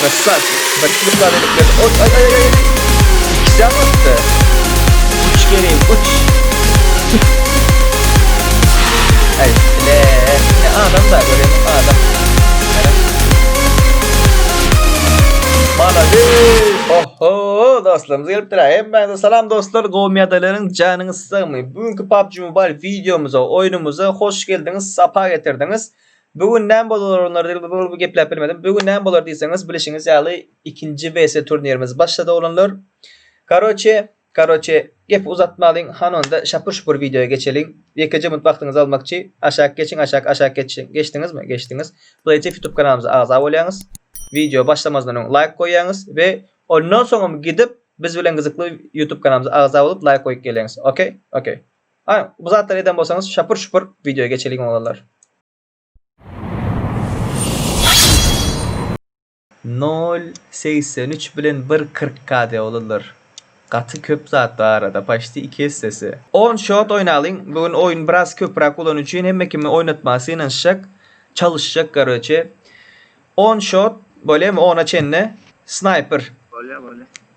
Krassaçik. Bäş ýüz bal edip geldi. Oý, aý, aý, aý. Jan atdy. Uç Kerim, uç. Aý, ne, ne adam da göreyim, adam. Malades. Oho, dostlarymyz gelipdir. Hemmäňize salam dostlar. Gowmyýadalaryň janyňyz sagmy? Bugünkü PUBG Mobile videomyza, oýnumyza hoş geldiňiz, sapa getirdiňiz. Bu gün näme bolar gepläp bilmedim. Bu gün näme bolar diýseňiz, bilişiňiz ýaly ikinji WC turnirimiz başlady oglanlar. Karoçe, karoçe gepi uzatmalyň, hany onda şapur-şupur wideoýa geçeliň. Ýekeje minut wagtyňyzy almakçy. Aşak geçiň, aşak, aşak geçiň. Geçdiňizmi? Geçdiňiz. Plaýtef ýutub kanalymyza agza bolýaňyz. Wideo başlamazyndan öň laýk goýýaňyz we ondan soňam gidip biz bilen gyzykly ýutub kanalymyza agza bolup laýk goýup geleňiz. Okey? Okey. Aý, bu zatlary eden bolsaňyz şapur-şupur wideoya geçeliň oglanlar. Nol segsen üç bilen bir kyrk KD oglanlar. Gaty köp zat bar arada, paçti iki essesi. On shot oýnalyň, bu gün oýun biraz köpüräk bolany üçin hemme kimi oýnatmaga synanyşjak, çalyşjak garoçe. On shot, bolýamy ona çenli? Snaýper. Bolýa bolýa.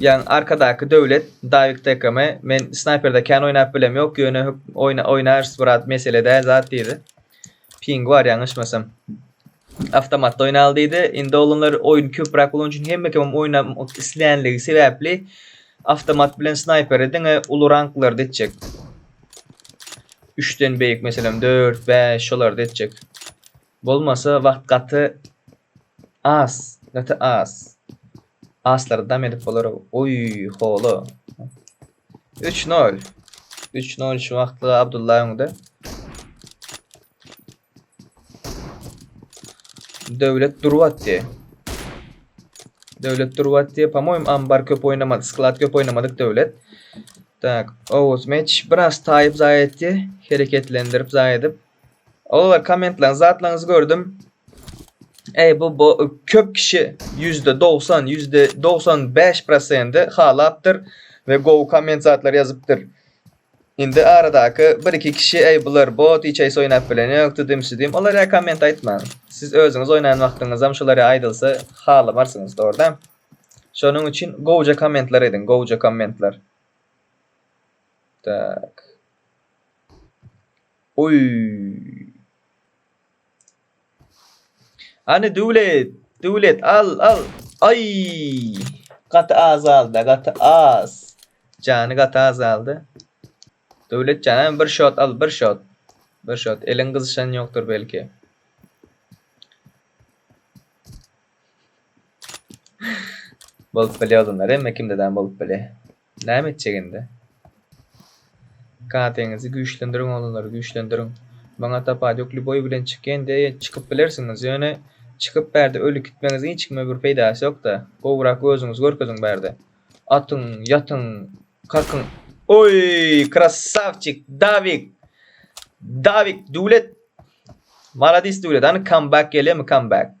Ýan arkadaky Döwlet Dawid Tekkame men snaýperde kän oýnap bilem ýok ýöne hökm oýnarys brat mesele däl zat diýdi. Pingi bar ýalňyşmasam. Awtomatda oýnaly diýdi. Indi oglanlar oýun köpräk bolan üçin hemme kim oýnamak islänligi sebäpli awtomat bilen snaýperi diňe uly ranklarda etjek. 3-den beýik meselem 4, 5 şolarda etjek. Bolmasa wagt gaty As, gaty as. Aslary dam edip bolar. Oý, hola. 3-0. 3-0 şu wagtlyga Abdulla öňde. Döwlet durup atdy. Döwlet durup atdy. Pamoým ambar köp oýnamadyk, sklad köp oýnamadyk döwlet. Tak, Oğuz meç biraz taýyp zaý etdi. Hereketlendirip zaý edip. Ogullar kommentleň zatlaňyzy gördüm. Eý bu bu köp kişi %90, %95 prosenti halapdyr we gowy komment zatlar ýazypdyr. Indi aradaky bir iki kişi eý bular bot hiç aýsy oýnap bileni ýok tudim şudim olara komment aýtmaň. Siz özüňiz oýnan wagtyňyzam şulara aýdylsa halamarsyňyz dogryda. Şonuň üçin gowja kommentler ediň gowja kommentler. Tak. Oý. Hany Döwlet, Döwlet al, al. Aý. Gaty azalda, gaty az. Jany gaty azaldy. Döwlet jan hem bir şot al, bir şot. Bir şot. Eliň gyzyşan ýokdur belki. Bolup bilýär adamlar, hemme kimde-de bolup bilýär. Näme etjek indi? Kateňizi güýçlendiriň oglanlar, güýçlendiriň. Maňa Tapadýuk lýuboý bilen çykýan diýýä, çykyp bilersiňiz, ýöne çykyp bärde öli gitmegiňiziň hiç kime bir peýdasy ýok-da. Gowrak özüňizi görkeziň bärde. Atyň, ýatyň, kakyň. Oý, krassawçik, Dawik! Dawik, Döwlet! Maladis Döwlet, hany comeback gelýärmi, comeback?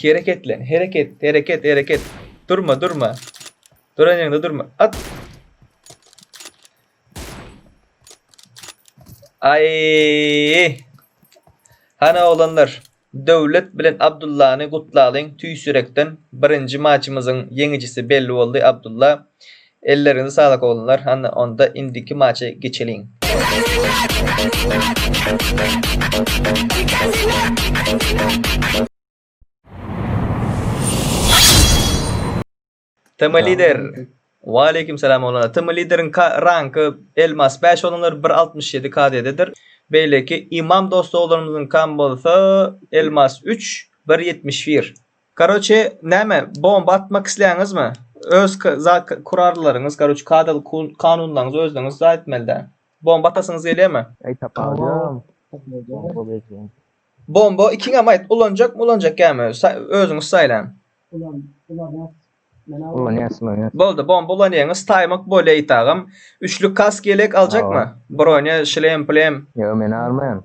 Hereketle, hereket, hereket, hereket. Durma, durma. Duran ýeriňde durma. At. Ay! Hana oglanlar, Döwlet bilen Abdullany gutlalyň tüýs ýürekden. Birinji maçymyzyň ýeňijisi belli boldy, Abdulla. Elleriňize saglyk oglanlar hany onda indiki maçy geçeliň. Tm lider Waleýkim salam oglanlar Tm lideriň ka ranky elmas bäş oglanlar bir altmyş ýedi KD-dedir beýleki Imam dost oglanymyzyňkam bolsa elmas üç bir ýetmiş bir Karoçe näme bomba atmak isleýäňizmi? Öz kurarlaryňyz, karoçe kadaly kanunlaryňyzy özüňiz zaý etmelidä. Bomba atasyňyz gelýärmi? Eý taparýam. Bomba berseň. Bomba ikiňem aýt, ulanjakmy, ulanjak ýamy? Özüňiz saýlaň. Ulan, ulanýas. Ulanýas, ulanýas. Boldy, bomba ulanýaňyz, taýmak bol eý tagam. Üçlük kask ýelek aljakmy? Bronya, şlem, plem. Ýok, men almaýan.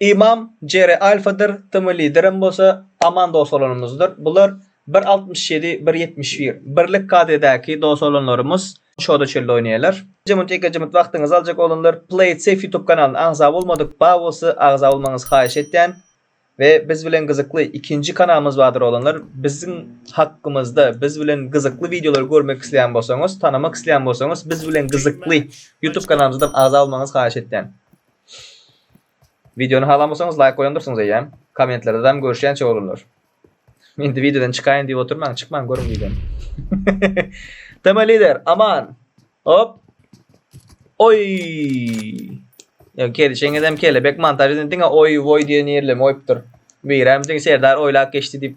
Ymam Jere Alfadyr, Tm Liderem bolsa aman dos bolanymyzdyr. Bular bir altmyş ýedi, bir ýetmiş bir. Birlik KD-däki dos bolanlarymyz şoda çölde oýnaýarlar. Iki minut, ýekeje minut wagtyňyzy aljak oglanlar. Play it safe ýutub kanalyna agza bolmadyk ba bolsa agza bolmagyňyzy haýyş etýän. We biz bilen gyzykly ikinji kanalymyz bardyr oglanlar. Biziň hakkymyzda, biz bilen gyzykly wideolary görmek isleýän bolsaňyz, tanamak isleýän bolsaňyz biz bilen gyzykly ýutub kanalymyzam agza bolmagyňyzy haýyş etýän. Wideony halamysaňyz laýk goýandyrsyňyz eýýäm. Kommentlerde dam görüşýänçä oglanlar. Indi wideodan çykaýyn diýip oturmaň, çykmaň görüň wideony. Tema lider, aman. Hop. Oý. Ýa gelişeňiz hem kelebek montaj edin diňe oý voý diýen ýerlemi oýupdyr. Birem diň Serdar oýlap geçdi diýip.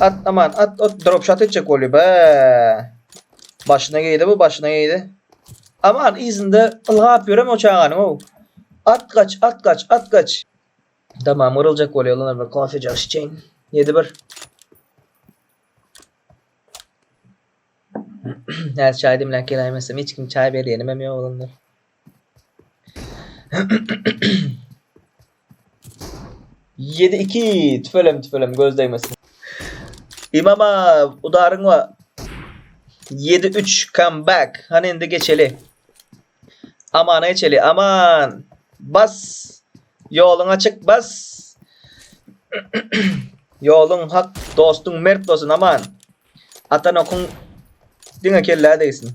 At aman at ot drop shot etjek bolýa be. Başyna geýdi bu başyna geýdi. Aman yzynda ylgap ýörem o çaganyň ow. At gaç at gaç at gaç. Tamam gyryljak bolýa olar bir kofejak şiçeýin. 7-1. Häzir çaý demläp geläýmesem hiç kim çaý berýenimem ýok olanlar. Ýedi iki tüfelem tüfelem göz degmesin. Imama udaryň wa 7-3 come back. Hany indi geçeli. Amana geçeli. Aman. Bas. Ýoluň açyk bas. Ýoluň hak, dostuň mert bolsun Aman. Atan okuň diňe kellä degsin.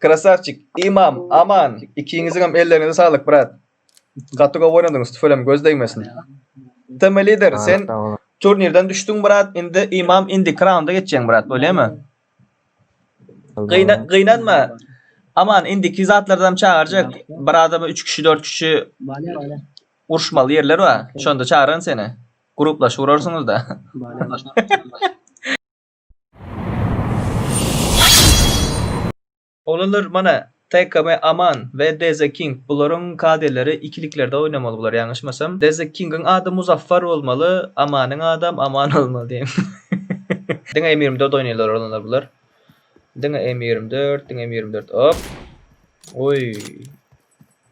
Krasavçik, Imam, Aman, ikiňiziňem ellerinize saglyk brat. Gaty gowy oýnadyňyz, tüfelem göz degmesin. Tm lider, sen turnirden düşdüň brat, indi Imam indi raunda geçjäň brat, bolýamy? Gyna, gynanma. Aman indiki zatlardan çagyrjak. Bir adama 3 kişi, 4 kişi uruşmaly ýerler bar. Şonda çagyran seni. Gruplaşyp urarsyňyz da. Oglanlar mana TKM Aman we Deze King bularyň KD-leri ikiliklerde oýnamaly bular ýalňyşmasam. Deze Kingiň ady Muzaffer bolmaly, Amanyň adam Aman bolmaly diýen. Diňe M ýigrimi dört oýnaýlar oglanlar bular. Diňe M ýigrimi dört, diňe M ýigrimi dört. Hop. Oý.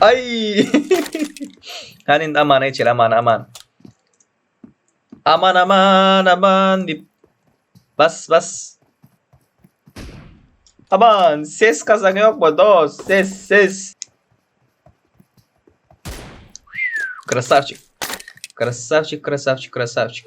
Aý! Hany indi amana geçeli, amana, aman. Aman, aman, aman diýip. Bas, bas. Aman, ses kazan ýokmy dost? Ses, ses. Krasavçik. Krasavçik, krasavçik, krasavçik.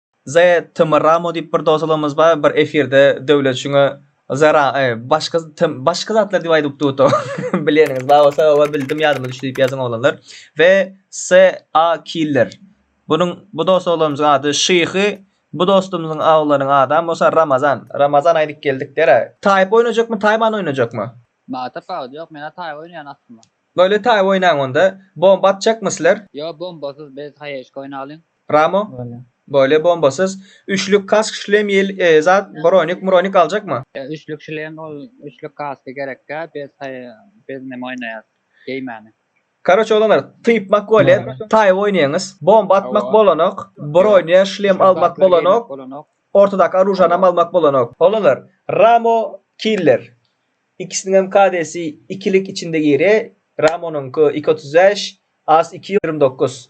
The Tym Ramo diýip bir dosologymyz bar bir efirde Döwlet şuňa Zara e başga tym başga zatlar diýip aýdyp utd o bileniňiz bar bolsa oba bildim ýadyma düşdi diýip ýazyň oglanlar we SA Killer bunuň bu dosologymyzyň ady Şyhy bu dostumyzyň oglanyň adam bolsa Ramazan Ramazan aýdyp geldik dera Taýyp oýnajakmy Taýman oýnajakmy? Batyr Kaka ýok mena Taýyp oýnaýan aslynda. Bolýa Taýyp oýnaň onda. Bomba atjakmy sizler? Ýok bombasyz biz haýeşka oýnalyň. Ramo. Bolýa bombasyz. Üçlük kask şlem ýel zat bronik mronik aljakma. Üçlük şlem ol üçlük kask gerekkä bez taý bez neme oýnaýas geýmäne. Karoç oglanlar typmak bolýa taý oýnaýaňyz bomba atmak bolanok bronia şlem almak bolanok ortadaky oružanam almak bolanok. Oglanlar ramo killer ikisiniňem kadesi ikilik içinde gire ramonyňky iki otuz bäş az iki ýigrimi dokuz.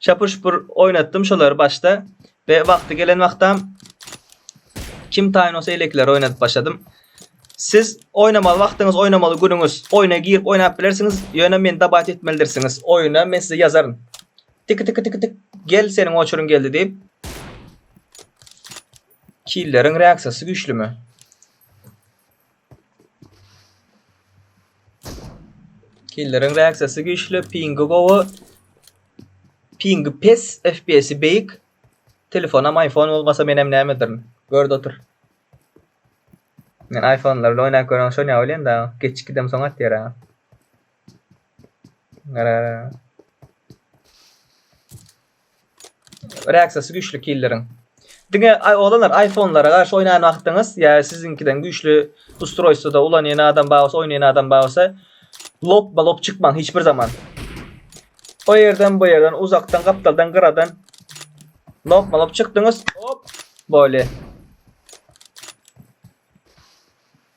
Şapur şupur oýnatdym şolary başda we wagty gelen wagtam kim taýyn bolsa elekileri oýnadyp başladym. Siz oýnamaly wagtyňyz, oýnamaly günüňiz, oýna girip oýnap bilersiňiz, ýöne meni dabat etmelidirsiňiz. Oýna men size ýazaryn. Tiki tiki tiki tik. Gel seniň oçuryň geldi diýip. Killeriň reaksiýasy güýçlümi? Killeriň reaksiýasy güýçli, pingi gowy. Pingi pes, FPS-i beýik. Telefonam iPhone bolmasa menem nämedirn. Görde otur. Men iPhone-lar bilen oýnap göreniň şon ýaly welin daň, geç gidem soň atýar-a. Reaksiyasy güýçli killeriň. Diňe oglanlar aýfonlara garşy oýnan wagtyňyz ýa siziňkiden güýçli ustroýstwoda ulanýan adam bar bolsa, oýnaýan adam bar bolsa, lopba lop çykmaň hiç bir zaman. O ýerden, bu ýerden, uzakdan, gapdaldan, gyradan lopma lop çykdyňyz, hop, bolýa.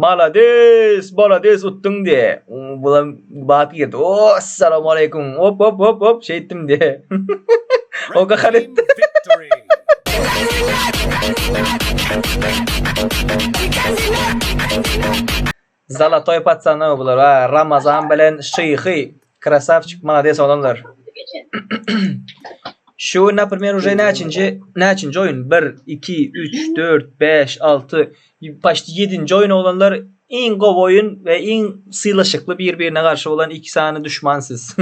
Malades malades utdyň diye. Bula bat girdi. O assalamu aleykum. Hop hop hop hop şeytdim diye. o kakar etti. Zalotoý paçany bular a Ramazan bilen şyhy krasawçik malades oglanlar. Şu gün naprimer uje näçinji näçinji oýun 1 2 3 4 5 6 paşti 7-nji oýun oglanlar iň gowy oýun we iň sylaşykly bir-birine garşy bolan iki sany duşman siz.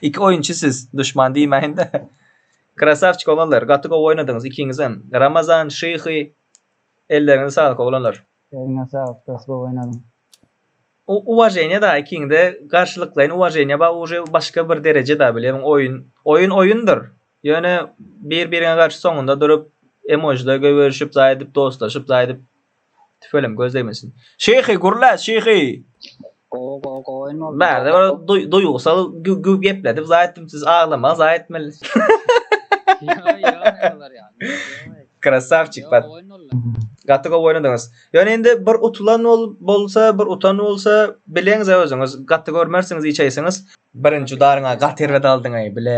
iki oýunçy siz duşman diýmäýinde. Krasawçik oglanlar gaty gowy oýnadyňyz ikiňizem. Ramazan şyhy elleriňize saglyk oglanlar. Eliňe saglyk dos gowy oýnadyň. U uwaženýa da ikiňde garşylyklaýyn uwaženýa bar uje başga bir dereje da bilýämiň oýun oýun oýundyr ýöne bir biriňe garşy soňunda durup emojiler göýberişip zaý edip dostlaşyp zaý edip tüweleme göz degmesin şyhy gürle şyhy. Gowy gowy gowy oýun boldy. Bärde gowy, bir gowy. duý- duýgusal gü- gü- gepledip zaý etdim siz aglamaň zaý etmeli. Ýa ýa aýalar ýa. Krasawçik bat. Gowy oýun boldy. Gaty gowy oýnadyňyz. Ýöne indi bir utulan bol- bolsa, bir utan bolsa bileňizä özüňiz. Gaty görmersiňiz, içeýsiňiz. Birinji udaryňa gaty erbet aldyňaý bile.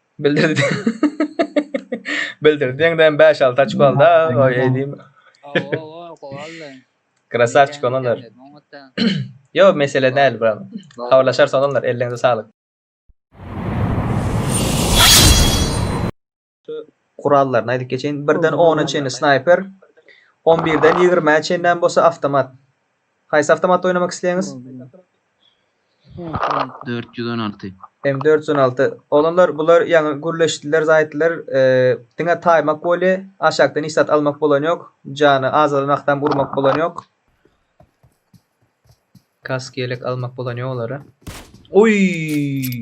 Bildirdi. Bildirdi. Ýeňden 5-6 açko aldy. Oý, eýdim. Oho, gowaldy. Krasavçik olanlar. Ýok, mesele däl, brat. Habarlaşarys olanlar, elleňize saglyk. Gurallaryny aýdyp geçeýin. Birden ona çenli snayper, on birden ýigrimä çenlem bolsa awtomat. Haýsy awtomatda oýnamak isleýäňiz? Dört ýüz on alty. M dört ýüz on alty. Oglanlar bular ýaňy gürleşdiler, zaýtdylar. Eee, diňe taýmak bolýa. Aşakdan hiç zat almak bolan ýok. Jany azalan wagtam urmak bolan ýok. Kask, ýelek almak bolan ýok olara. Oý!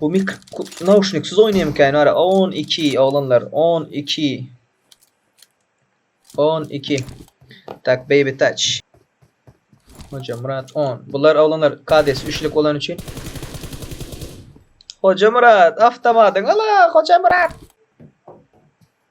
Bu nauşniksiz oýnaýmyka ýene ara on iki oglanlar on iki on iki tak beýbi taç Hojamyrat on bular oglanlar kadesi üçlük bolan üçin Hojamyrat awtomatyň ala Hojamyrat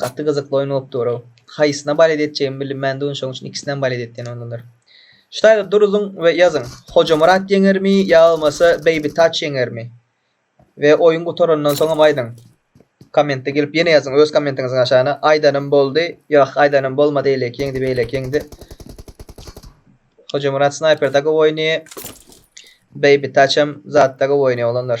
Gaty gyzykly oýun bolup durow. Haýsyna balet etjegimi bilinmän duryn şoň üçin ikisinem balet etýän ondandyr. Ştaýger duruzyň we ýazyň Hojamyrat ýeňermi ýa bolmasa Baby Touch ýeňermi we oýun gutarandan soňam aýdyň. Kommentde gelip ýene ýazyň öz kommentiňiziň aşagyna aýdanym boldy ýa-h aýdanym bolmady eýleki ýeňdi beýleki ýeňdi. Hojamyrat Snaýper da gowy oýnaýy Baby Touch hem zatda gowy oýnaýy oglanlar.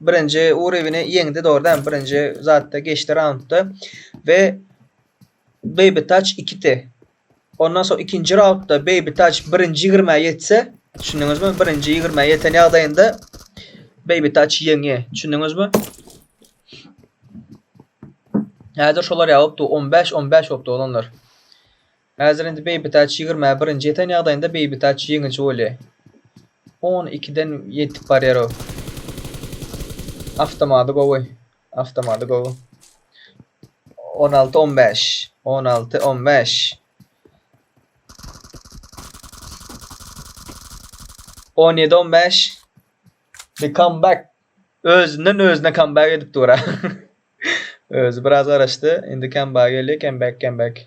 birinji urewini ýeňdi dogry dämi birinji zatda geçdi raundda we Baby Touch ikiti ondan soň ikinji raundda Baby Touch birinji ýigrimä ýetse düşündiňizmi birinji ýigrimä ýeten ýagdaýynda Baby Touch ýeňýär düşündiňizmi häzir şolar ýa bopdy on bäş on bäş bopdy oglanlar Häzir indi Beýbitaç ýigrimä birinji ýeten ýagdaýynda Beýbitaç ýeňiji bolýa. On ikiden ýetip barýar o. Awtomady gowy. Awtomady gowy. On alty on bäş. On alty on bäş. On ýedi on bäş. The comeback. Özünden özüne comeback edip dura. Özi biraz garaşdy. Indi comeback gelýär. Comeback comeback.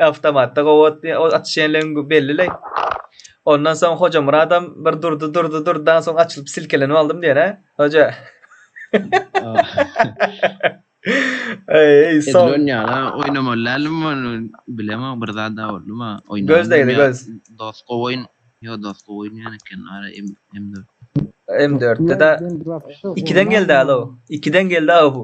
Awtomatda gowy otdy. O atyş ýerleň belli-le. Ondan soň Hojamyradam bir durdy, durdy, durdy. Daň soň açylyp silkelenip aldym diýen, hä? Hoja. Eý, soň. Edil onýala oýnamaly däldim ony. Bilemok, bir zat da boldy ma. Oýnamaly. Göz degdi, göz. Dos gowy oýun. Ýo, dos gowy oýnaýan eken. Ara M4. M4-de-de ikiden geldi-ä-le o. Ikiden geldi-ä bu.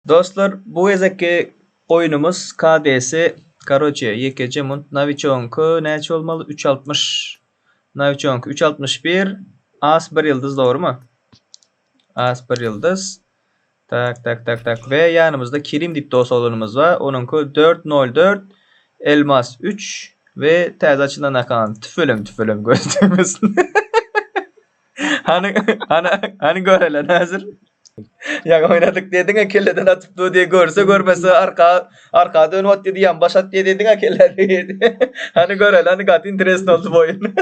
Dostlar bu gezekki oýnumyz KD-si karoçe ýekeje munt nawiçogyňky näçe bolmaly üç altmyş nawiçogyňky üç altmyş bir as bir ýyldyz dogrymy as bir ýyldyz Tak tak tak tak we ýanymyzda Kerim diýip dost oglanymyz bar. Onuňky 404 Elmas 3 we täze açylan akan. Tüfelem tüfelem göz degmesin. Hany hany hany görele näzir. Ýaňy oýnadyk diýdiň-ä kelleden atyp dur diýe görse görmese arka Arka dönüp atdy diýýän baş at diýediňä kelle diýdi. Hany göreli hany gaty interesn oldy bu oýun.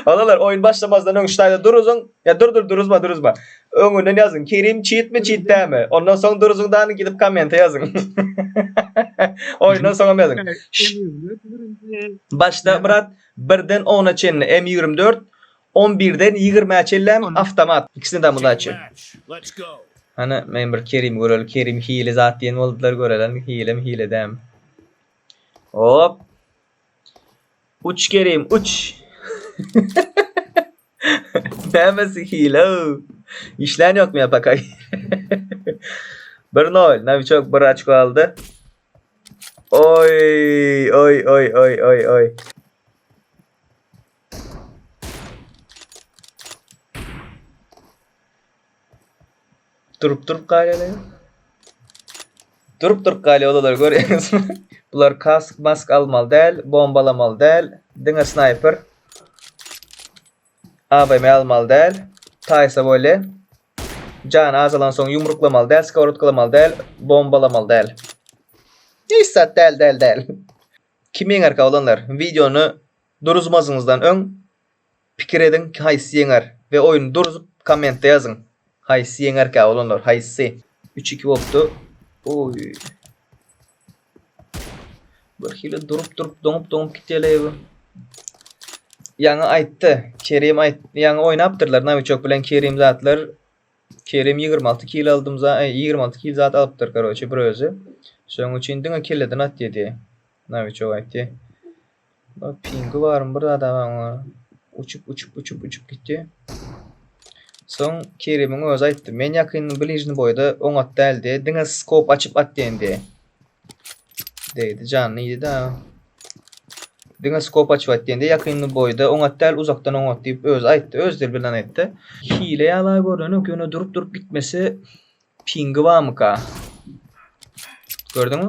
Balalar oýun başlamazdan öň ştaýda duruzyň. Ya dur dur duruzma duruzma. Öňünden ýazyň. Kerim çitmi çitdämi. Ondan soň duruzyň dany gidip komente ýazyň. Oýundan soňam ýazyň. Başda Myrat birden ona çenli M24 On birden ýigrimä çenlämi awtomat ikisine de myddaçy. Hany men bir Kerimi göreli Kerim hile zat diýen boldular görelen hilemi hile dämi. Hop. Uç Kerim uç. Nämesi hile? İşlän ýokmy ýa pakay? 1-0. Naviçok bir açko aldy. Oy, oy, oy, oy, oy, oy. Durup durup galýarlar. Durup durup galýar olar görýäňizmi? Bular kask, mask almaly däl, bombalamaly däl, diňe snayper. AVM almaly däl. Taýsa bolýa. Jan azalan soň ýumruklamaly däl, skowrotkalamaly däl, bombalamaly däl. Hiç zat däl, däl, däl. Kim ýeňerkä olanlar? Wideony Duruzmazňyzdan öň pikir ediň ki haýsy ýeňer we oýny duruzup kommentde ýazyň haýsy ýeňerkä oglanlar haýsy. Üç iki bolupdy oý. Birhili durup durup doňup doňup gitýeleý bu. Ýaňy aýtdy Kerim aýt ýaňy oýnapdyrlar Nawiçok bilen Kerim zatlar Kerim ýigrimi alty kill aldym za eý ýigrimi alty kill zat alypdyr karoçe bir özi şoň üçin diňe kelleden at ýedi Nawiçok aýtdy. Bar pingi barmy bir zada bar oňa. Uçup uçup uçup uçup gitdi. Soň Kerimiň özi aýtdy. Men ýakyn bližni boýda oňat däldi. Diňe skop açyp at diýendi. Degdi janyny ýedi-de. Diňe skop açyp at diýendi. Ýakyn boýda oňat däl, uzakdan oňat diýip özi aýtdy. Öz dil bilen aýtdy. Hile ýala görnenok, ýöne durup-durup gitmesi pingi barmyka? Gördüňmi?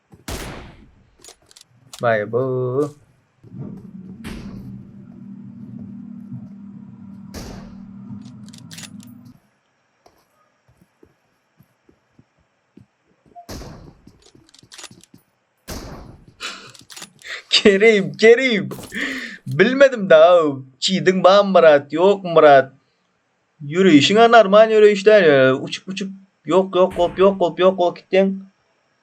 Baý bu. Kerim, Kerim. Bilmedim da. Çiydin ba Murat, yok Murat. Yürüyüşüne normal yürüyüşler. Uçup uçup yok yok kop yok kop yok kop gittin.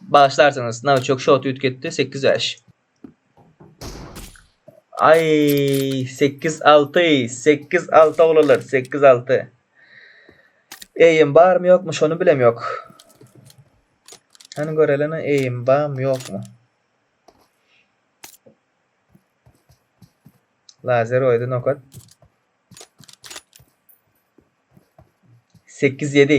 Bagyşlarsyňyz, nowçok şot üýtgetdi, sekiz bäş. Aý, sekiz alty, sekiz alty oglanlar, sekiz alty. Eýim barmy ýokmy, şony bilem ýok. Hany görelini, eýim barmy ýokmy? Lazer oýdy nokat. Sekiz ýedi.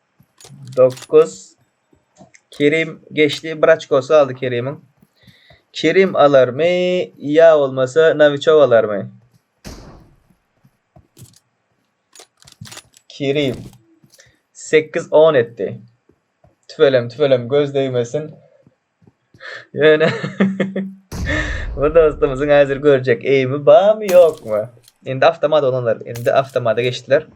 Dokuz. Kerim geçdi. Bir açkosy galdy Kerimiň. Kerim alarmy? Ýa bolmasa Nawiçow alarmy? Kerim. Sekiz on etdi. Tüwelem, tüwelem göz degmesin. Ýöne bu dostumyzyň häzir görjek eými barmy, ýokmy? Indi awtomat olanlar, indi awtomata geçdiler.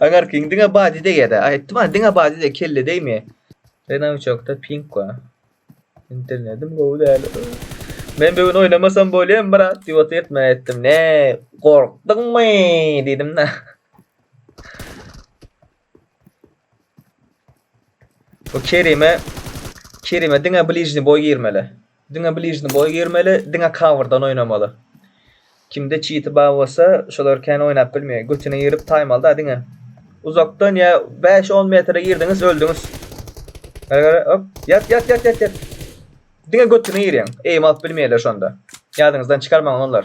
Aňarkiň diňe body degýär-de. Aýtdym-a, diňe body deg, kelle degmeýär. Renault çokda pink bar. Internetim gowy däl. Men bugün oynamasam bolýan brat diýip otyrtm etdim. Ne, gorkduňmy diýdim-de. Bu Kerime Kerime diňe blizny boý girmeli. Diňe blizny boý girmeli, diňe coverdan oýnamaly. Kimde çiti bar bolsa şolar kän oýnap bilmeýär götüne girip taýmaly da diňe uzakdan ýa bäş on metre girdiňiz öldüňiz gara gara hop ýat ýat ýat ýat ýat diňe götüne girýäň eým alyp bilmeýärler şonda ýadyňyzdan çykarmaň olanlar.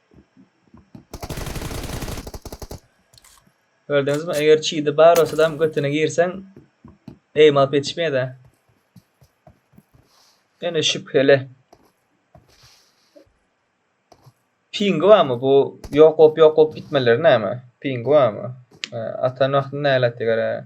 Gördüňiz mi eger çidi bar bolsadam götüne girseň eým alyp ýetişmeýädä. Ýöne şübheli. Pingi barmy bu ýok bolup ýok bolup gitmeleri näme? Pingi barmy? Atan wagtynda näle atdy gara.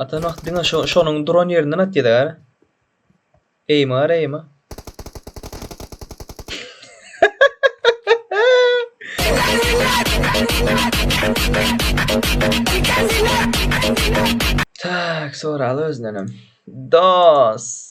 Atan wagty diňe şo şonuň duran ýerinden atýada gara. Eýme gara eýme. Tak, soraly özünden hem. Dos.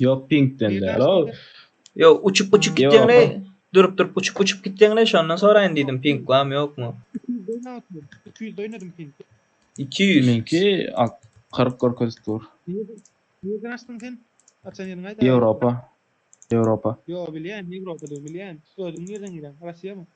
Yok pinkten de. Lo. Yo uçup uçup Yo. gitdiň ne? Durup durup uçup uçup gitdiň ne? Şondan soraýyn diýdim pink barmy ýokmy? 200 atdym. 200 oynadım ping. 200. Minki alt 40 görkezip dur. Nereden açtın sen? Açan yerin ayda. Europa. Europa. Yo bilyen. Evropa'da bilyen. Özün nereden gelen? Rusya mı?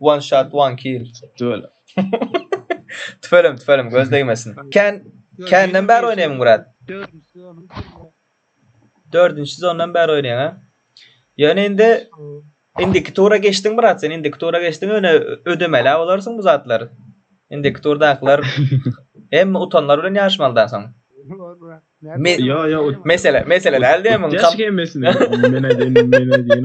One shot one kill. Tüwelem. tüwelem tüwelem göz degmesin. Ken Kenden bäri oýnaýmyň brat? Dördünçi zondan bäri oýnaýaň ha. Ýöne indi indiki tura geçdiň brat sen indiki tura geçdiň ýöne ödemeli bolarsyň bu zatlary. Indiki turdakylar hem utanlar bilen ýaşmalydan soň. Me yo yo mesele mesele däldi hem. Geç gelmesine. Men aýdýan men aýdýan.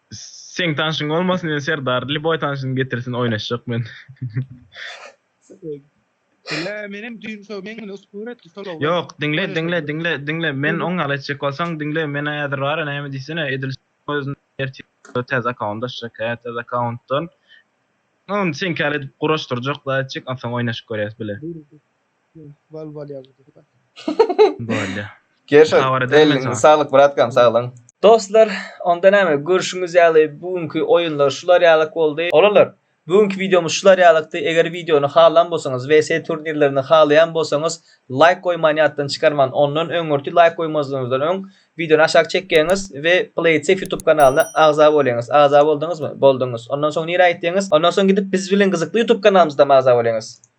Seň tanşyň bolmasyn men Serdar liboý tanşyny getirsin oýnaşjak men. Diňle menem düýn şo meň bilen uspun etdi şol oglan. Ýok diňle diňle diňle diňle men oň ýaly etjek bolsaň diňle men häzir bara näme diýsene edil özüne ertir täze akkaunt açjak hä täze akkauntdan ony seňki ýaly edip guraşdyrjak zat etjek onsoň oýnaşyp görýäs bile. Bal bal ýaly bir zat. Bolýa. Gerşo, Habar edermen elinize saňa. saglyk bratkam, saglan. Dostlar, onda näme, görşüňiz ýaly bu günki oýunlar şular ýalyk boldy. Oglanlar, bu günki wideomyz şular ýalykdy. Eger wideony halan bolsaňyz, WC turnirlerini halaýan bolsaňyz, laýk goýmany ýatdan çykarman. Ondan öňürti laýk goýmazlygyňyzdan öň, wideony aşak çekýäňiz we PlaySafe YouTube kanalyna agza bolýaňyz. Agza bolduňyzmy? Bolduňyz. Ondan soň nirä gitýäňiz? Ondan soň gidip biz bilen gyzykly YouTube kanalymyzdam agza bolýaňyz.